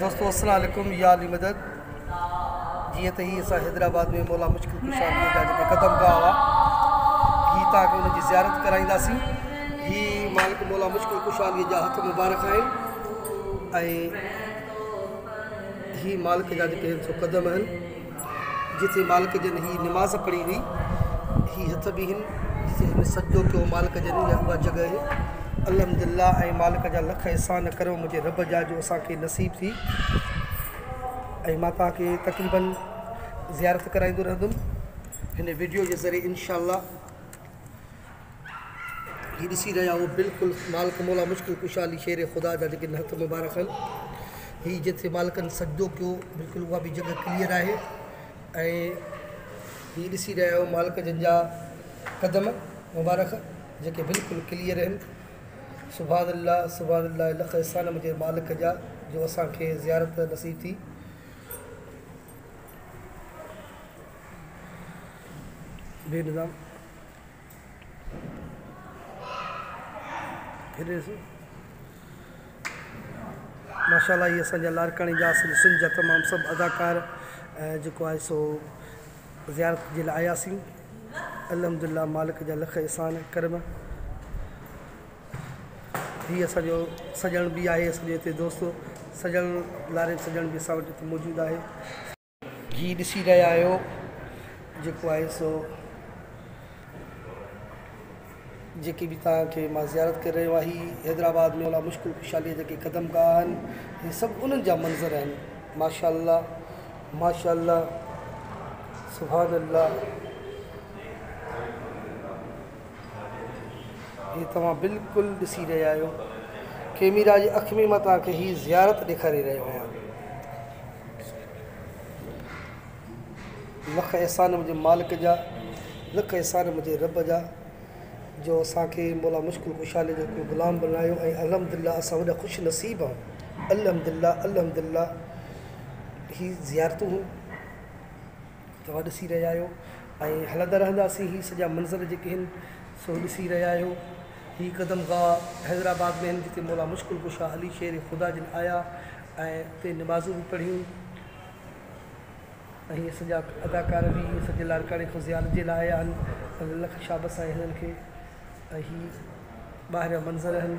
دوستو السلام عليڪم يا علي مدد جيئن ته هي اسان حيدرآباد ۾ مولا مشڪل ڪشا جي جا جيڪي قدم گاهه هئا هي تان کي ان جي زيارت ڪرائينداسين هي مالڪ مولا مشڪل ڪشا جي جا هٿ مبارڪ آهن ۽ هي مالڪ جا جيڪي سو قدم آهن جتي مالڪ جن هي نماز پڙهي هئي، هي هٿ به هن، جتي هن سجدو ڪيو مالڪ جن، يا اها جڳهه هي. الحمد لله ۽ مالڪ جا لک احسان ڪريو منهنجي رب جا جو اسان کي نصيب ٿي ۽ مان توهان کي تقريباً زيارت ڪرائيندو رهندم هن وڊيو جي ذريعي انشاء الله. هي ڏسي رهيا هو بلڪل مالڪ مولا مشڪل ڪشا علي شير خدا جا جيڪي هٿ مبارڪ هن هي جتي مالڪن سجدو ڪيو بلڪل اها به جڳهه ڪليئر آهي ۽ هي ڏسي رهيا هو مالڪ جن جا قدم مبارڪ جيڪي بلڪل ڪليئر هن سبحان الله سبحان الله لک احسان مجھي مالڪ جا جو اسان کي زيارت نصيب ٿي بي نظام ماشاءالله هي اسان جا لاڙڪاڻي جا اصل سنڌ جا تمام سڀ اداڪار ۽ جيڪو آهي سو زيارت جي لاء آياسين الحمدلله مالڪ جا لک احسان ڪرم هي اسانجو سڄڻ بي آهي اسانجو هتي دوست سڄڻ لاري سڄڻ بي اسان وٽ هتي موجود آهي جي ڏسي رهيا آهيو جيڪو آهي سو جيڪي به توهان کي مان زيارت ڪري رهيو آهي حيدرآباد ۾ اولا مشڪل خوشحالي جا جيڪي قدم گاهه آهن هي سڀ انهن جا منظر آهن ماشاء الله ماشاء الله سبحان الله هي توهان بلڪل ڏسي رهيا آهيو ڪيميرا جي اک ۾ مان توهان کي هي زيارت ڏيکاري رهيو آهيان لک احسان منهنجي مالڪ جا لک احسان منهنجي رب جا جو اسان کي مولا مشڪل ڪشا جو ڪو غلام بڻايو ۽ الحمد لله اسان وڏا خوش نصيب آهيون الحمد لله الحمد لله هي زيارتون توهان ڏسي رهيا آهيو ۽ هلندا رهنداسين هي سڄا منظر جيڪي آهن سو ڏسي رهيا آهيو هي قدم گاهه حيدرآباد ۾ آهن جتي مولا مشڪل ڪشا علي شير خدا جن آيا ۽ اتي نمازون به پڙهيون ۽ هي سڄا اداڪار به هي سڄي لاڙڪاڻي کان زيارت جي لاء آيا آهن لک شابس آهي هنن کي ۽ هي ٻاهر جا منظر آهن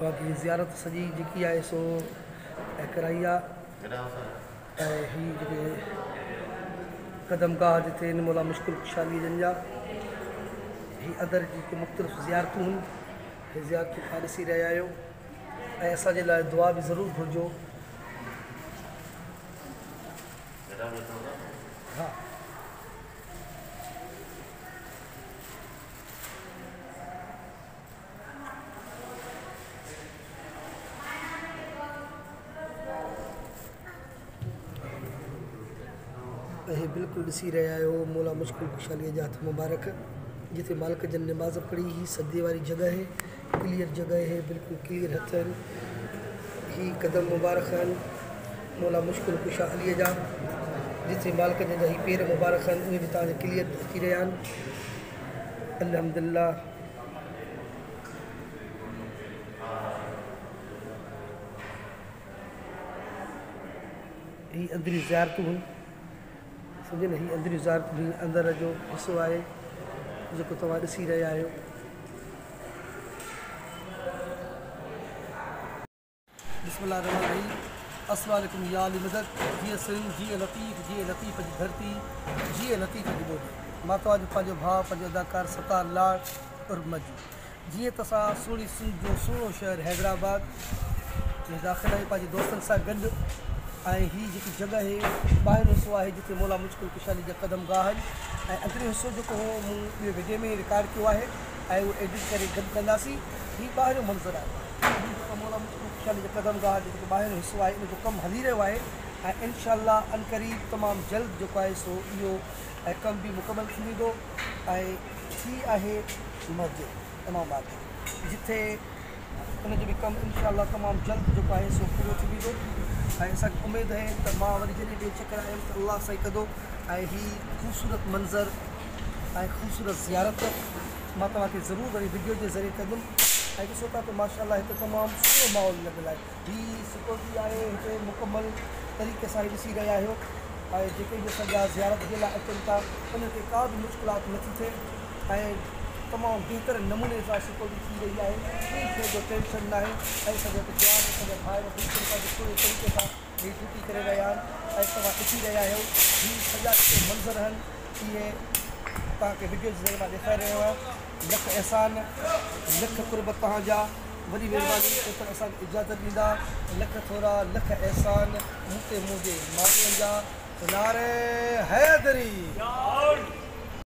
باقي زيارت سڄي جيڪي آهي سو ايڪرائي آ ۽ هي جيڪي قدم گاهه جتي ان مولا مشڪل خوشحالي جن جا هي ادر جي ڪو مختلف زيارتون هن هي زيارتون کان ڏسي رهيا آهيو ۽ اسان جي لاء دعا به ضرور گهرجو اهي بلڪل ڏسي رهيا آهيو مولا مشڪل ڪشاليء جا هٿ مبارڪ جتي مالڪ جن نماز پڙهي هي سجدي واري جڳهه هي ڪليئر جڳهه هي بلڪل ڪليئر هٿ هن هي قدم مبارڪ هن مولا مشڪل ڪشا علي جا جتي مالڪ جن جا هي پير مبارڪ هن اهي به تان ڪليئر ڏسي رهيا آهن الحمدلله هي اندريون زيارتون هن سمجهيون نه هي اندريون زيارتون هي اندر جو حصو آهي جيڪو توهان ڏسي رهيا آهيو بسم الله الرحمن الرحيم اسوا لكم يا علي مدد جيئي سنڌ جيئي لطيف جيئي لطيف جي ڌرتي جيئي لطيف جي ٻولي مان توهانجو پنهنجو ڀاء پنهنجو اداڪار ستار لاڙ عرف مجي جيئي ته اسان سهڻي سنڌ جو سهڻو شهر حيدرآباد ۾ داخل آهيون پنهنجي دوستن سان گڏ ۽ هي جيڪي جڳهه هي ٻاهريون حصو آهي جتي مولا مشڪل ڪشالي جا قدم گاهه آهن ۽ اندريون حصو جيڪو هو مون ٻي وڊيو ۾ رڪارڊ ڪيو آهي ۽ اهو ايڊٽ ڪري گڏ ڪنداسين هي ٻاهريون منظر آهي سنڌ جي سمورا مختلف خيالي جا قدم گاهه جيڪو ٻاهريون حصو آهي ان جو ڪم هلي رهيو آهي ۽ انشاء الله عنقريب تمام جلد جيڪو آهي سو اهو ڪم به مڪمل ٿي ويندو ۽ هي آهي مسجد امام آباد جي جتي ان جو به ڪم انشاء الله تمام جلد جيڪو آهي سو پورو ٿي ويندو ۽ اسانکي اميد آهي ته مان وري جڏهن ٻي چڪر آيم ته الله سائين ڪندو ۽ هي خوبصورت منظر ۽ خوبصورت زيارت مان توهان کي ضرور وري وڊيو جي ذريعي ڪندم ۽ ڏسو ٿا ته ماشاء الله هتي تمام سٺو ماحول لڳل آهي هي سڪيورٽي آهي هتي مڪمل طريقي سان هي ڏسي رهيا آهيو ۽ جيڪي به اسان جا زيارت جي لاء اچن ٿا انهن کي ڪا به مشڪلات نه ٿي ٿئي ۽ تمام بهترين نموني سان سڪيورٽي ٿي رهي آهي ڪنهن شيء جو ٽينشن ناهي ۽ اسان جا جوان اسان جا ڀائر بلڪل پنهنجي پوري طريقي سان هي ڊيوٽي ڪري رهيا آهن ۽ توهان ڏسي رهيا آهيو هي سڄا جيڪي منظر آهن اهي توهان کي وڊيو جي ذريعي مان ڏيکاري رهيو آهيان لک احسان لک قرب توهان جا وڏي مهرباني جيڪر اسان کي اجازت ڏيندا لک ٿورا لک احسان مون تي منهنجي ماڻهن جا نعري حيدري